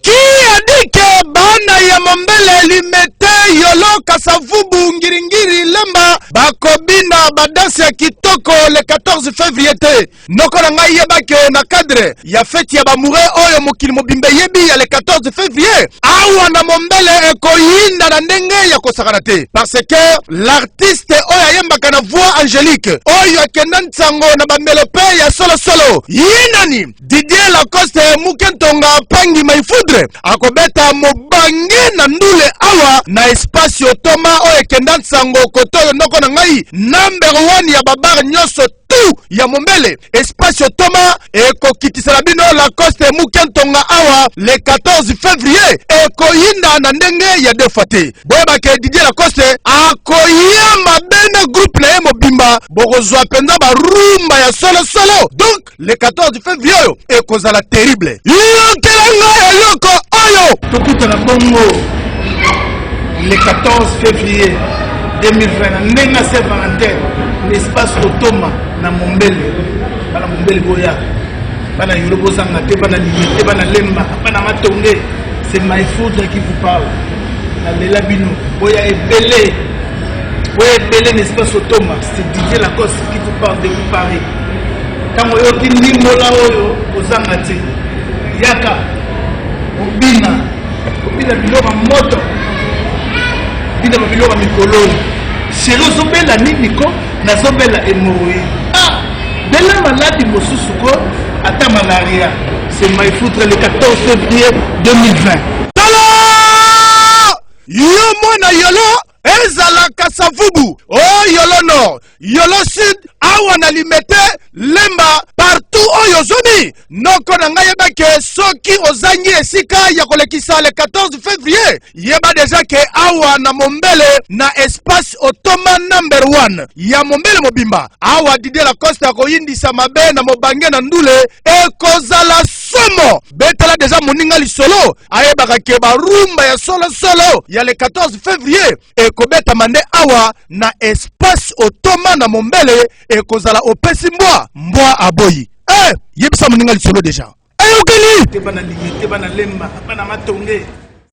Qui a dit que bana ya mombele limete yolo kasavubu ngiringiri lemba bakobina badanse ya kitoko le 14 février te noko na ngai yebaki oyo na cadre ya feti ya bamoure oyo mokili mobimba eyebi ya le 14 février awa na mombele ekoyinda na ndenge ya kosakana te parce que l'artiste oyo ayembaka na voix angélique oyo akenda nsango na bamelope ya solosolo ye nani Didier Lacoste muke ntonga pangi mai foudre akobeta mobange na ndule awa na espace otoma oyo ekenda nsango koto oyo noko na ngai number 1 ya babare nyonso tu ya mombele espace otoma ekokitisela bino Lacoste muke ntonga awa le 14 février ekoyinda na ndenge ya defa te boyebake Didier Lacoste akoya mabe na groupe na ye mobimba bokozwa mpenza barumba ya solosolo donc le 14 fevrier oyo ekozala terrible yokela ngai eloko oyo tokutana bongo le 14 fevrier 2020 na ndenge na se valentine na espace kotoma na mombele bana mombele boya bana yolo bozanga te bana liye te bana lemba bana matonge c'est my food qui vous parle nalela bino boya ebele boya ebele na espace otoma c'est didier lacoste qui vous parle de vous paris Ntango oyoki ndimbola oyo, kozanga te, yaka obina, obina biloko ya moto, obina ba biloko ya mikoloni. Sheri, ozobela nini ko? Nazobela hemorroïde. Ah, bela maladi mosusu ko, ata malaria. C'est my foutre le 14 février 2020. Tala! Yo mwana yolo! ezala kasavubu o oh, yolo nord yolo sud awa na limete lemba partout oyo ozomi noko na ngai yeba ke soki ozangi esika ya kolekisa le 14 février yeba deja ke awa na mombele na espace otoma number 1 ya mombele mobimba awa didie lacoste akoyindisa mabe na mobange na ndule ekozala somo betala deja moninga lisolo ayebaka ke barumba ya solosolo ya le 14 février ekobetama nde awa na espace otoma na mombele ekozala opesi mbwa mbwa aboyi eh, yebisa moninga lisolo deja eyokeli te bana limete bana lemba bana matonge